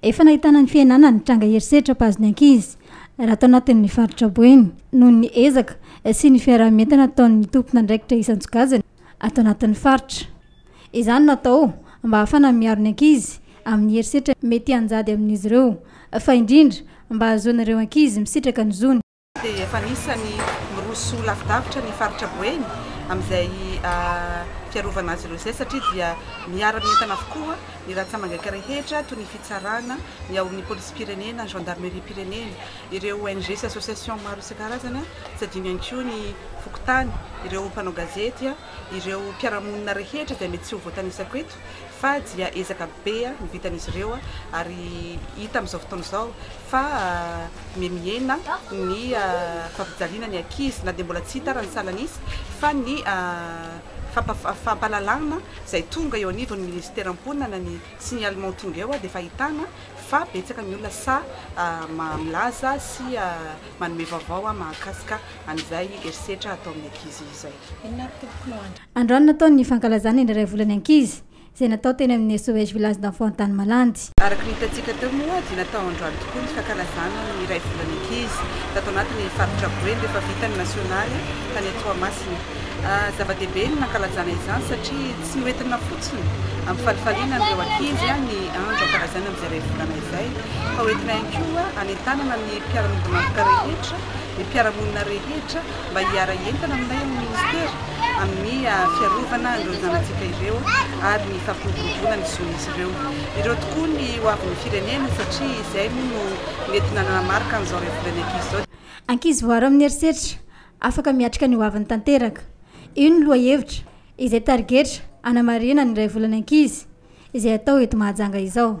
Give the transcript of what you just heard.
Efa nahitana ny fiainana ny tranga herisetra mpahazo ny ankizy raha tao anatin'ny faritra Boeny noho ny ezaka sy ny fiaraha-mientana ataon'ny tompon'andraikitra isan-tsokajiny ato anatin'ny faritra. Izany no atao mba hahafana miaro ny ankizy amin'ny herisetra mety hanjady amin'izy ireo, fa indrindra mba hahazoana ireo ankizy misitraka ny zony. dia efa anisan'ny miroso lavidavitra ny faritra Boeny amin'izay fiarovana azy ireo izay satria dia miara-mientana avokoa ny ratsamangaka rehetra toy ny fitsarana, ny ao amin'ny polisim-pirenena, ny gendarmeriam-pirenena, ireo ONG sy association maro isan-karazany sady iny ihany koa ny fokontany, ireo mpanao gazety. Ireo mpiara-monina rehetra dia mety tsy ho voatanisako eto fa dia ezaka be no vitan'izy ireo ary hita amin'izao fotoana izao fa mihemihena ny fampijaliana ny ankizy na dia mbola tsy hita ary ny salan'izy fa ny fampahalalana izay tonga eo anivon'ny Minisitera mponina na ny signalement tonga eo dia efa ahitana fa betsaka ny olona sahy milaza sy manome vaovao mahakasika an'izay herisetra atao amin'ny ankizy izay. Androany natao ny fankalazana ny iray volan'ny ankizy, izay natao teny amin'ny SOS Village d'Enfants Antanimalandy. Araka ny hitantsika teo moa dia natao androany tokoa ny fankalazana ny iray volan'ny ankizy, tato anatin'ny faritra Boeny rehefa vita ny nasionaly tany Toamasina. Zava-dehibe ny nankalazana izany satria tsy noentina fotsiny hampifalifaliana an'ireo ankizy ny andro hankalazana an'izay iray volana izay fa hoentina ihany koa hanentanana ny mpiara-miombon'antoka rehetra, ny mpiara-monina rehetra. mba hiara-hientana aminay amin'ny Minisitera amin'ny fiarovana an'ireo zanantsika ireo ary ny fampiroboroboana ny zon'izy ireo. Ireo tokoa ny ho avin'ny firenena satria izay moa no mety nanamarika an'izao revolion'ny ankizy izao. Ankizy voaro amin'ny herisetra, afaka miatrika ny ho aviny tanteraka. Io no lohahevitra, izay tarigetra hanamarihana ny Raivolan'ny ankizy izay atao eto Mahajanga izao.